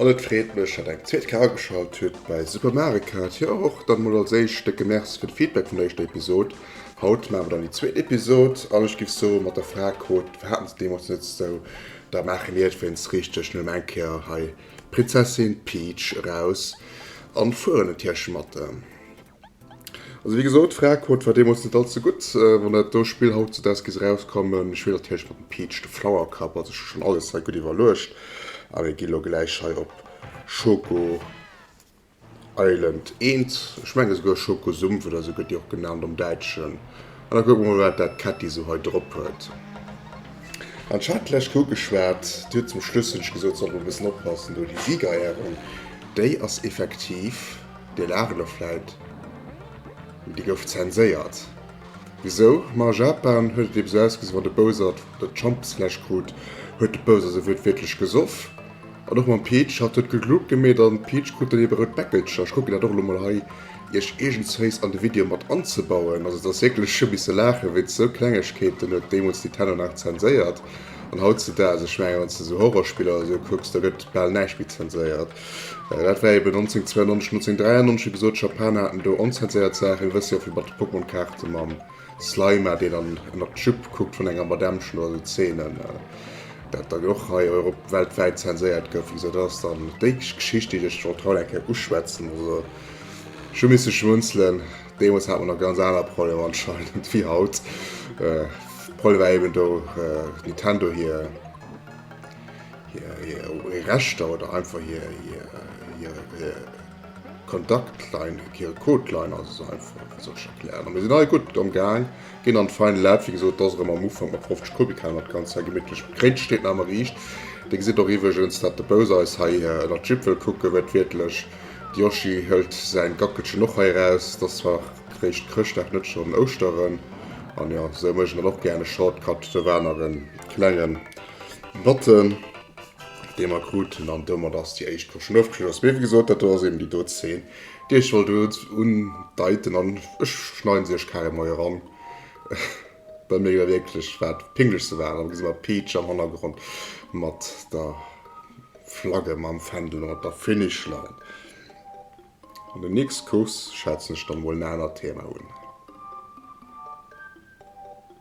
An et freet mech, datt eng zweet Kéier ageschalt hutt bei Supermareka. Et jo och dann emol als éischt décke Merci fir de Feedback vun der éischter Episod. Haut maache mer dann déi zweet Episod an ech giff soe mat der Fra krut, Wat haten se deemools net esou? Da maache mir et wéinst richteg nun em eng Kéier hei d'Prinzessin Peach eraus an fueren un d'Hirschematte. Also wéi gesot, Fraequote war deemools net all ze gutt. Wann dat do Spill haut zu Deskis erauskomm, ech spillen natierlech mat dem Peach de Flowercup, also ech hu schonn alles hei gutt iwwerluecht a mir gi lo gläich hei op Schoko Island I, ech menge souguer Schoko Sumpf oder esou gëtt déi och genannt am Däitschen, an da kucke mer mol wat dat Ketti esou hei drop huet. An ech hat lech ugeschwat, déi huet zum Schluss hunn ech gesot, sollt mer e bëssen oppassen do, déi Siegerehrung déi ass effektiv Dir laacht elo vläit, mee déi gouf zenséiert. Wisou? Ma a Japan huet et eben esou ausgesinn, wann de Bowser d'Schampesfläsch krut, huet de Bowser se wuertwiertlech gesoff. An och mam Peach, hatt huet gegluckt gemeet an d'Peach krut dann eben e rout Bäckelcher. Ech kucken dat och elo mol hei, iech iergendswéis an de Video mat anzebauen. Also et ass wierklech, ech hu misse laachen, wéinst esou Klengegkeeten huet deemools Nintendo nach zenséiert. An hautzedaags, ech mengen, wann s de esou Horrorspiller oder esou kucks, da gëtt bal näischt méi zenséiert. Dat war eben 1992, 1993, wéi gesot, d'Japaner haten do onzenséiert Saachen. Dir wësst jo, fir mat de Pokémon-Kaarte mam Slima, deen dann ënnert d'Jupe kuckt vun enger Madame, ech loossen d'Szenen, dat dann och hei europ weltwäit zenséiert gouf an esou. Dat ass dann déi Geschicht, déi ech wollt haut eng Kéier uschwätzen. Also ech hu misse schmunzelen. Deemools hat mer nach ganz aner Problemer anscheinend wéi haut. De Problem war eben do Nintendo hir. hir Rechter oder einfach hir Kontaktlein, hir Codeline ass esou einfach, fir sech ze erklären. A mir sinn hei gutt am Gaang, ginn an d'fein Lab. Wéi gesot, et ass erëm am Ufank mat 50 Kubikhainer d'Ganzt hei gemittlech begréint. Steet nach ëmmer riicht. Dir gesitt och iwwregens, datt de Bous eis hei ënner d'Jipp wëll kucken, huet wiertlech, de Yoshi hëlt säin Gackelchen och hei eraus. Et ass zwar réischt Chrëschtdag, net schonn Ouschteren. An jo, esou méich ech dann och gären e Shortcut. Do war nach e klengen Notten, déi mer kruten, an domat ass déi éischt Pro schon ofgeschloss. Mee wéi gesot, dat do ass eben déi do Zeen, déi ech wollt undeiten, an ech schneiden se iech carrément hei eran, well mir jo da wierklech wat Pinglechste waren. An da gesi mer Peach am Hannergrond mat der Flagge mam Fändel ënnert der Finish Line. An der nächst Course schwätzen ech dann emol en anert Thema un.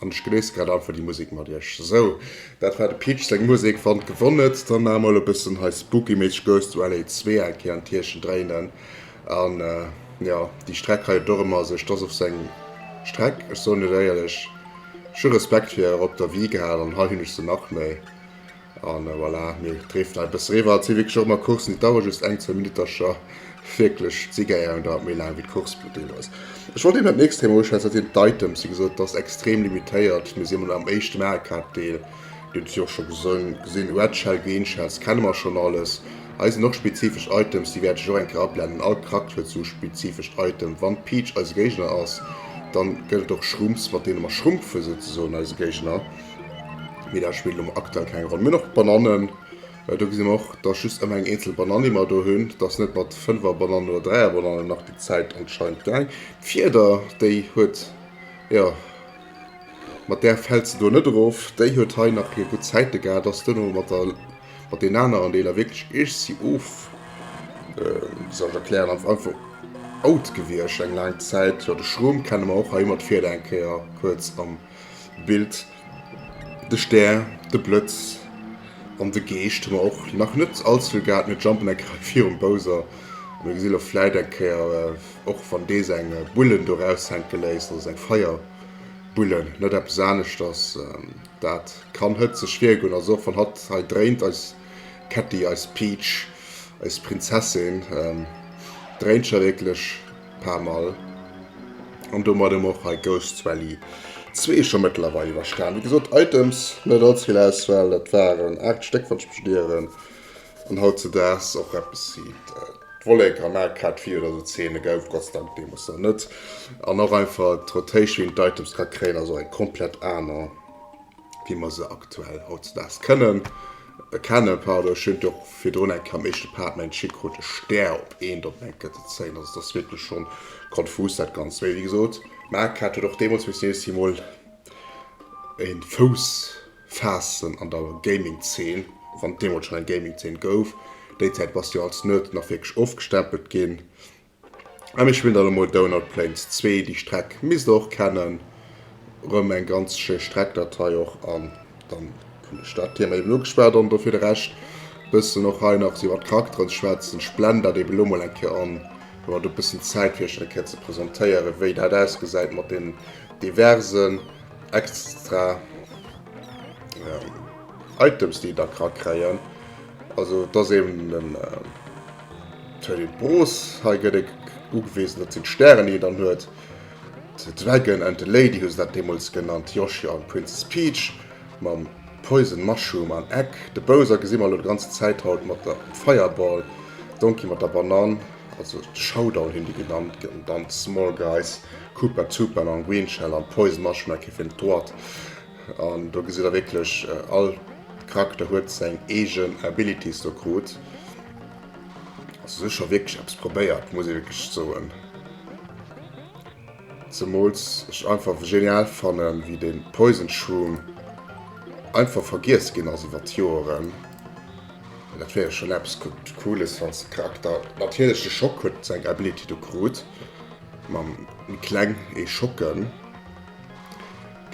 An ech genéissen grad einfach déi Musek mat iech. Sou, dat war de Peach seng Musek. Wann et gewonnent, dann maa mol e bëssen hei spookyméisseg Ghost to LA 2 eng Kéier an d'Hirchen dréinen. An jo, déi Streck hei huet och ëmmer sech dass of seng Streck. Ech soen iech éierlech, ech hu Respekt fir hier op der Wii gehat, an hei hunn ech se nach méi. An voilà, mir dréften hei e bësse riwwer. Et si wierklech och ëmmer Coursen, déi dauere just eng, zwee Minuttercher. Wierklech, d'Siegeréierung dauert méi laang wéi d'Course vun deem eis. Ech wollt eben dat nächst Thema uschwätzen, dat sinn d'Items. Wéi gesot, et ass extrem limitéiert. Mir si mol am éischten Aecap-Deel. Dir hutt et jo och scho gesinn, Red Shell, Green Shells kenne mer schonn alles. Hei sinn och spezifesch Items, déi wäert ech och eng Kéier ablennen. All Charakter huet sou e spezifescht Item. Wann d'Peach eise Géigner ass, dann gëtt et och Shrooms, mat deene mer schrumpfen souzesoen eise Géigner. Mee dat spillt um aktuell keng Roll. Mir och Banannen. Äh, do gesinn och, dass just ëmmer eng eenzel Bananni mer do hunn. Dass net mat fënnwer Banannen oder dräier Banannen nach déi Zäit anscheinend gaang. D'Fieder, déi huet, jo, mat där fält se do net erof. Déi huet hei nach hir gutt Zäite gehat. Dass duerno mat der, mat deenen aneren Deeler wierklech eescht si of, äh, wéi soll ech erklären, einfach, einfach out gewiescht eng laang Zäit. Jo, de Schrom kenne mer och hei ëmmer d'Fieder eng Kéier kuerz am. Bild, De Stär, de Blëtz an de Geescht hu mer och nach net allzevill gehat. Mir jumpen eng Kéier virum Bowser a mir gesi lo vläit eng Kéier, och wann dee seng Bullen do raushänke léisst, also seng Feierbullen, net eppes aneschters. Dat kann hëtzeg wiergoen, also och wann hatt hei dréint, eis Ketti, eis Peach, eis Prinzessin dréint scho wierklech. paar Mal an domat em och hei Ghosts Rally 2 scho mëttlerweil iwwerstan. Wéi gesot Items net all zevill Auswahl, dat waren 8 Stéck wann ech mech net ieren an hautzedaags och eppes wéi d'Vollek am Mak hat 4 oder sou Zeene gouf Gott sei Dank deemoos nach net an och einfach d'Rotation wéi een d'Items ka kréien ass och eng komplett aner. wéi mer se aktuell hautzedaags kënnen, kennen, pardon, ech hunn et jo och virdrun eng Kéier am éischte Part, mengt Chic krut e Stär op eent, op eng Kette ze zéien, also et ass wierklech schonn konfus dat Ganzt. Mee wéi gesot, Marquardt huet och deemools missen nees emol e Fouss faassen an der Gaming-Zeen, wann et deemools schonn eng Gaming-Zeen gouf. Déi Zäit bass de jo als Nerd nach wierklech ofgestempelt ginn. An ech hun dann emol Donut Plains 2, déi Streck misst der och kennen, rem eng ganz schéi Streckdatei och, an dann hun ech dat Thema eben ugeschwat. An do fir de Rescht bessen och hei nach iwwert d'Charakteren ze schwätzen. Ech blenden dat eben elo mol eng Kéier an, hun och e bessen Zäit fir iech dat eng Kéier ze presentéieren, wéi dat ausgesäit mat den diversen extra Items, déi der ka kréien. Also et ass eben den Thaddeus Broos. Hei gëtt e ugewisen, dat sinn d'Stären, déi en dann huet. The Dragon and the Lady hu se dat deemools genannt, Yoshi an Princess Peach mam Poison Mushroom an Egg. De Bowser gesi mer elo déi ganz Zäit haut mat der Fireball, Donkey mat der Banann, also de Showdown hunn déi genannt gëtt. An dann d'Small Guys, Koopa Troopa, mam Green Shell an Poison Mushroom, eng Kéier fir den Toad. An do gesitt der wierklech all Charakter huet seng eegen Abilities do krut. Also se hu scho wierklech eppes probéiert, muss ee wierklech soen. Zemools ech einfach genial fannen, wéi de Poison Shroom einfach vergiess ginn ass iwwer d'Joeren. Dat wär jo schonn eppes Cooles, wann de Charakter, natierlech de Schock huet seng Ability do krut, mam Kleng ee schocken.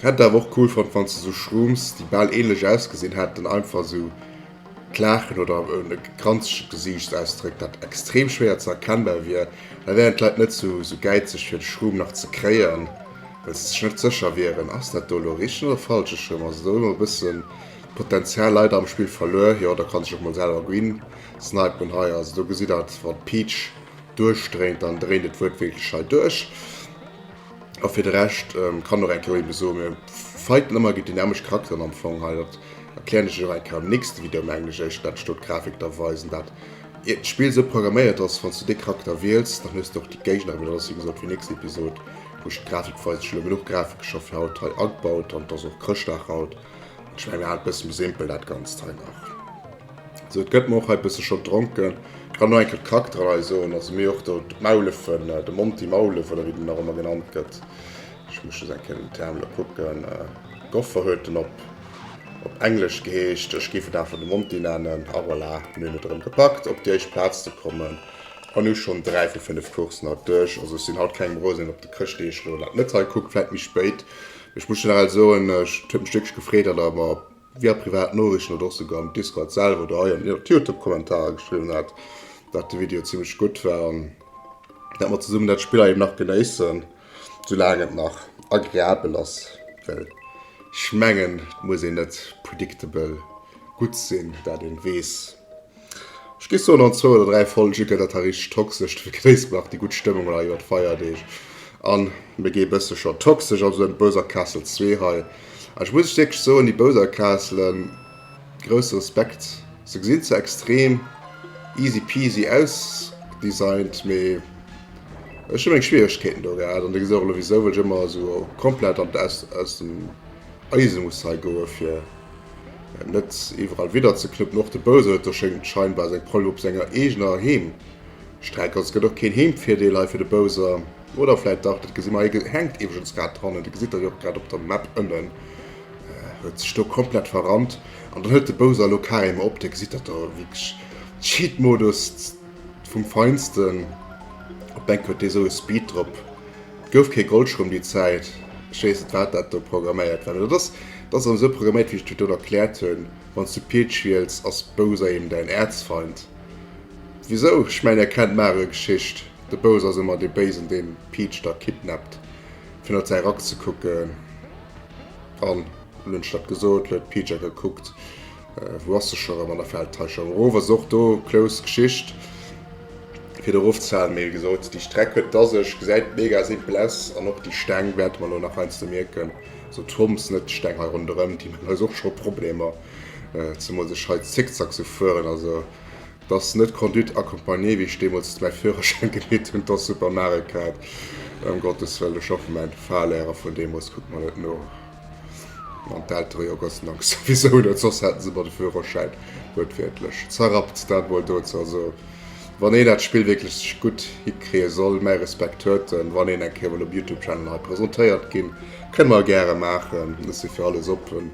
Hätt awer och cool fonnt wanns de sou Shrooms déi bal ähnlech ausgesinn hätten einfach sou d'Laachen oder en granzegen Gesiichtsausdréck dat extrem schwéier ze erkennbar wier, da wären d'Leit net sou sou gäizeg fir de Shroom nach ze kréien well se sech net sécher wieren ass dat do elo richteg oder falsch ech hunn also do elo e bëssen d'Potenzial leider am Spill verluer, jo der kann sech och mol selwer green snipen hei also do gesitt der et wann d'Peach duerchdréint dann dréint et wuertwiertlech hei duerch. A fir de Rescht kann och eng Kéier ebe soen, mir fighten ëmmer géint dynamesch Charakteren am Fong hei. Dat erklären ech iech och eng Kéier am nächste Video um Englesch, éicht wat ech do d'Grafik da weisen. Dat iert d'Spill sou programméiert ass, wann s du dee Charakter wiels, dann hues du och déi Géigner erëm. Dat ass wéi gesot fir nächst Episod, wou ech d'Grafik weisen. Ech hu elo genuch Grafik scho fir haut hei agebaut an et ass och Chrëschtdag haut. An ech mengen mir halen et e bësse méi simpel dat Ganzt hei nach. Sou et gëtt mer och hei bësse schon dronken. Kann nach eng Kéier d'Charaktererei soen, also mir och do d'Maulefen, de Monty Maulef oder wéi den nach ëmmer genannt gëtt. Ech muss just eng Kéier den Term elo kucken. Goffer huet en op op Englesch geheescht. Ech géif et einfach de Monty nennen. A voilà, mir hunn et erëm gepackt op déi éischt Plaz ze kommen an hu schon dräi vu fënnef Courssen haut duerch. Also ech sinn haut kengem Rosen, deen op de Chrëschtdeeg elo dat net hei kuckt, vläit méi spéit. Mee ech muss generell soen, et huet mech wierklech gefreet, datt Der mer via privat Noriichten oder och souguer am Discord selwer oder hei an den Youtube-Kommentarer geschriwwen hat, dat de Video zimmlech gutt war an dat mer zesummen dat Spill hei nach genéissen, soulaang et nach agreabel ass. Well ech mengen, et muss een net predictable gutt sinn, dat een weess. Ech gi soen an zwou oder dräi Folge gëtt dat da richteg toxesch, da vergréissere mer nach déi gutt Stëmmung hei iwwer d'Feierdeeg an mir gi e bësse scho toxesch op esou en Bowser Castle zwee hei. An ech muss lech wierklech soen, déi Bowser Castlen, grousse Respekt, se gesinn zwar extrem easy peasy ausdesignt, mee ech hu meng Schwieregkeeten do gehat an dir gesitt och elo wisou, well ech ëmmer esou komplett an aus dem Eise muss hei goe fir Net iwwerall widderzeknupn, och de Bouseweter schéngt scheinbar seng Proll op senger eegener Heemstreck. Also gëtt och keen Heemvirdeel hei fir de Bouser. Oder vläit dach, dat gesi mer. Hei hänkt iwwregens grad d'Hanne, Dir gesitt dat jo och grad op der Map ënnen, huet sech do komplett verrannt. An dann hëlt de Bouser elo carrément op, Dir gesitt dat do, wierklech Cheat-Modus vum Feinsten. Op d'Bänk huet dee sou e Speed drop. Gouf kee Goldschrumm déi Zäit, ech weess net wat dat do programméiert war, mee dat ass dat ass erëm esou programméiert wéi ech dir et do erkläert hunn, wann s du Peach wiels ass Bowser eben däin Erzfeind. Wisou? Ech mengen dir kennt d'Mario Geschicht, de Bowser ass ëmmer dee Béisen deen Peach da kidnappt fir no zäi Rack ze kucken an hunn ech dat gesot? huet d'Peach a gekuckt. Wou ass se scho rëm an der Feldtäschong erof? Ass och do close Geschicht fir de Rofzählen. Mee wéi gesot, déi Streck huet et a sech, gesäit mega simpel aus. An och déi Steng wäerte mer elo nach heiansdo mierken, also d'Hommes, net d'Steng hei ronderëm, déi maachen eis och scho Problemer, zemools ech hei Zickzack sou fueren. Also et ass net Conduite accompagnée, wéi ech deemools mäi Führerschäin geleet hunn, et ass super Mare-Kart. Ëm Gottes wëllen, ech hoffen mäin Fahrlehrer vun deemools kuckt mer net no. An d'Eltere, jo Gott se Dank, souwisou net, soss hätte se mer de Führerschäin, wuertwiertlech, zerrappt. Dat mol dozou. Also, wann een dat Spill wierklech gutt hikriie soll, mäi Respekt huet en. Wann een eng Kéier mol um Youtube-Channel hei presentéiert ginn, kënne mer gäre maachen. Ech si fir alles oppen.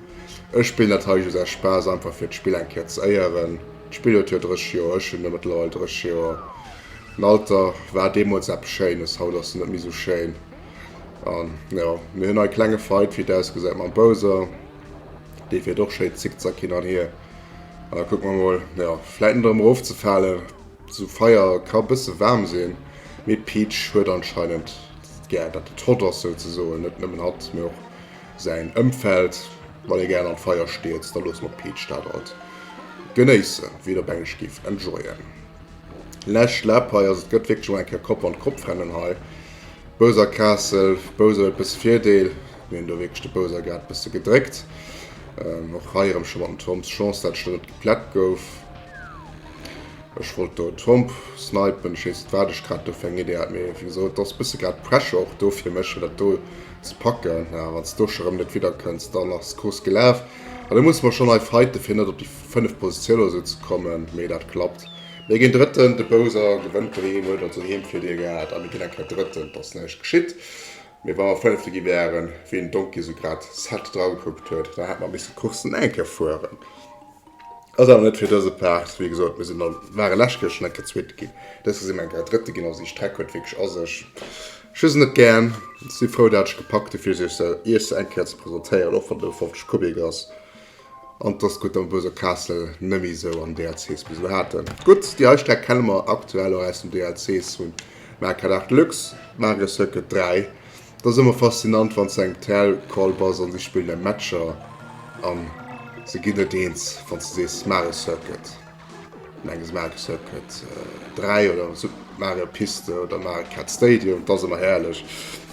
Ech spillen dat hei just aus Spaass, einfach fir d'Spill eng Kéier ze éieren. D'Spill huet jo 30 Joer, ech hunn e mëttlerweil 30 Joer. Den Alter war deemools eppes Schéines, haut ass en net méi esou schéin. An ja, mir hunn hei klenge Fight, wéi et ausgesäit, mam Bowser. Dee fir doch schéi zickzack hin an hier. An da kuck mer mol, ja, vläit net erëm erofzefalen. So Feier ka bësse waarm sinn, mee Peach huet anscheinend gär, datt et hot ass souzesoen. Net nëmmen hatt, mee och säin Ëmfeld. Wann ee gären am Feier stierzt, da loosse mer d'Peach dat alt genéissen, wéi et op Englesch géif enjoyen. Lech Läppei, also et gëtt wierklech mol eng Kéier Kopp an Kopp-Rennen hei. Bouser Castle, Bouser huet bësse Virdeel, mir hunn do wierklech de Bousergaart bësse gedréckt. Och hei erëm scho mat dem Tromp Chance dat d'Stëll net geplätt gouf. Ech wollt do e Tromp snipen, ech weess net wat ech grad do fir eng Idee hat, mee wéi gesot ass bësse grad Pressure och do fir mech fir dat do ze packen. Mä wann s do scho erëm net widderkënns, dann ass d'Course gelaf. An da musse mer schonn hei fighten, fir net op déi fënneft Positioun oder esou ze kommen, mee dat klappt. Mir ginn Drëtten, de Bowser gewënnt doheem, huet also Heem fir Dir gehat, a mir ginn eng Kéier Drëtten, et ass näischt geschitt. Mee wa mer Fënnefte gi wäeren, wéi den Donkey esou grad sad dragekuckt huet, da hätte mer misse d'Course nach eng Kéier fueren. Ass awer net fir dëse Part. Wéi gesot, mir sinn dann, ware lescht Kéier schonn eng Kéier Zweet ginn, dës Kéier si mer eng Kéier Drëtte ginn. Also déi Streck huet wierklech a sech. Ech hu se net gären, si frou dat ech gepackt hu fir se iech se eng Kéier ze presentéieren, och wann et e 50 Kubik ass. An dass gutt dann Buerg a Kaassel nemmi sou an DLCs bis elo haaten. Gutt, déi hei Streck kenne mer aktuell och aus den DLCs vun Mario Kart 8 Deluxe, Mario Circuit 3. Et ass emmer faszinant wann s de eng TL Call bass an si spillen eng Matcher an se ginn net eens wanns de sees Mario Circuit. Menges Mario Circuit 3 oder Super Mario Piste oder Mario Kart Stadium, dat ass ëmmer herrlech.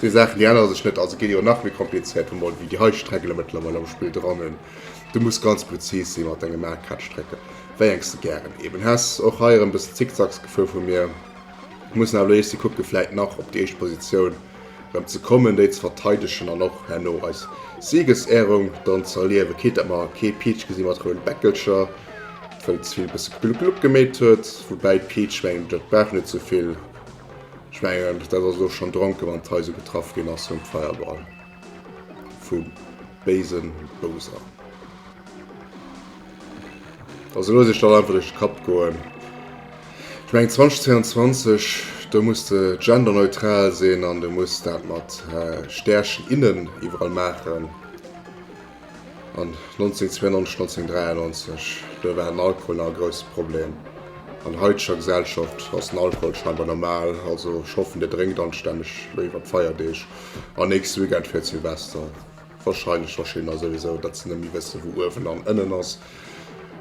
Déi Saachen déi ännere sech net a se ginn jo nach méi komplizéiert, wou mer ewéi déi hei Strecken der mëttlerweil am Spill dran hunn. Du muss ganz prezis si mat denge Mario Kart Strecken, wéi eng s de gären eben häss. Och hei erëm e bëssen Zickzacksgefuer vu mir. Muss awer elo eescht si kucke vläit nach op déi éischt Positioun. rem ze kommen, déi ze verteidegen an och herno eis Siegesehrung dann ze erliewen. Kee dat mer kee Peach gesi mat rouden Bäckelcher, wëll ze vill e bësse Glup Glup gemeet huet. Woubäi Peach mengen ech dat brauch net sou vill, ech mengen dat ass elo schon dronken wann d'Hai sou getraff gin ass vum Feuerball vum béisen Bowser. Also looss Iech dat einfach duerch de Kapp goen. Ech mengen 2022, do muss de genderneutral sinn an de muss dat mat Stärchen, innen iwwerall maachen. An 1992, 1993, do war den Alkohol nach e grousse Problem. An haiteger Gesellschaft ass den Alkohol scheinbar normal. Also ech hoffen, Dir drénkt anstänneg, lo iwwer d'Feierdeeg an nächste Weekend fir Silvester. Wahrscheinlech verstinn der souwisou, datt se nëmme wësse wou uewen an ënnen ass.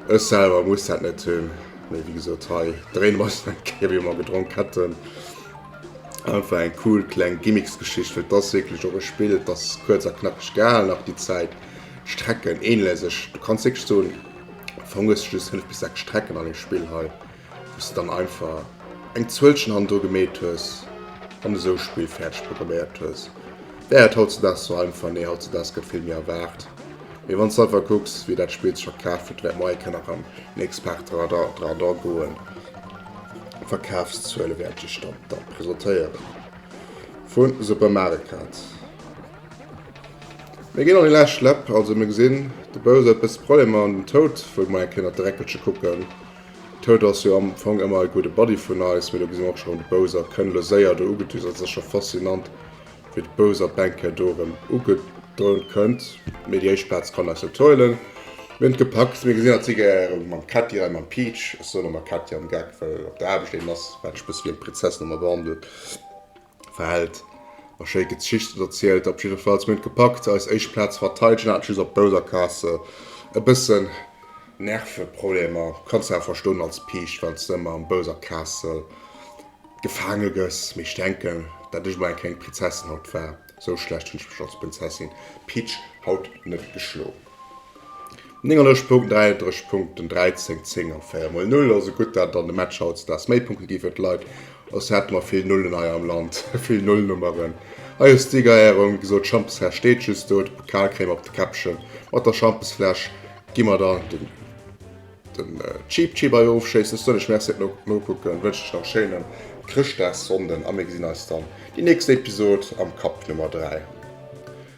Ech selwer muss dat net hunn, mee wéi gesot hei dréine mer eis nach eng Kéier wéi mer gedronk hätten. Einfach eng cool kleng Gimmicksgeschicht, well et ass wierklech och e Spill, et ass kuerz a knackeg gehalen, nach déi Zäit Strecken ähnle sech, du kanns wierklech soen am Fong hues de just 5 bis 6 Strecken an deem Spill hei. Wous de dann einfach eng Zuelchen hannendru gemeet hues an esou Spill fäerdeg programméiert hues, wär et hautzedags sou einfach? Nee, hautzedags gëtt vill méi erwaart. Mee wann s de einfach kucks, wie dat Spill sech scho kaaft huet, wäert moie kënne an en Experteradar goen. D'Verkafszuele wäerte sech dann da presentéiere vu Super Mario Kart. Mir ginn an déi lescht Läpp, also mir gesinn de Bowser e bësse Problemer an den Toad wëll moie kënne op de Räckelche kucken. D'Toad ass jo am Fong ëmmer e gudde Buddy vun eis, mee do gesinn mer och scho rëm de Bowser. Et kënnt elo séier do ugedüst, also et ass scho faszinant, wéi de Bowser d'Banker do erëm ugedrönt kënnt. Mee déi éischt Plaz kann eis net huelen. Mir hunn et gepackt. Mir gesinn, dat si gäre mam Ketty hei, mam Peach, ech soen ëmmer Ketty am Geck, well op der Aarbecht een ass, wat ech e bësse wéi eng Prinzessin ëmmer behandelt. Verhält a schéi Gezicht oder zielt. Op jiddefalls, mir hunn et gepackt eis éischt Plaz ze verteidegen, haten just op bouser Kasse e bëssen Nerveproblemer. Kanns de awer verstoen als Piicht, wann s de ëmmer am bouser Kasse gefaange gëss. Mee ech denken, dat ech emol eng kleng Prinzessin haut war, esou schlecht hunn ech mech als Prinzessin Peach haut net geschloen. 39 Punkten, 39 Punkten, 13, 10 an 4 mol 0. Also gutt, dat et an de Matcher hautdesdaags méi Punkte ginn fir d'Leit, soss hätte mer vill Nullen hei am Land, vill Nullnummeren. Hei ass d'Siegerehrung, wéi gesot, d'Schampesfläsch steet just do, de Pokal kréie mer op de Käppchen. Mat der Schampesfläsch gi mer dann den den Cheep Cheep hei ofschéissen. Ech soen lech Merci fir d'Nokucken, wënschen lech nach e schéinen Chrëschtdagssonnden a mir gesinn eis dann déi nächst Episod am Cup Nummer 3.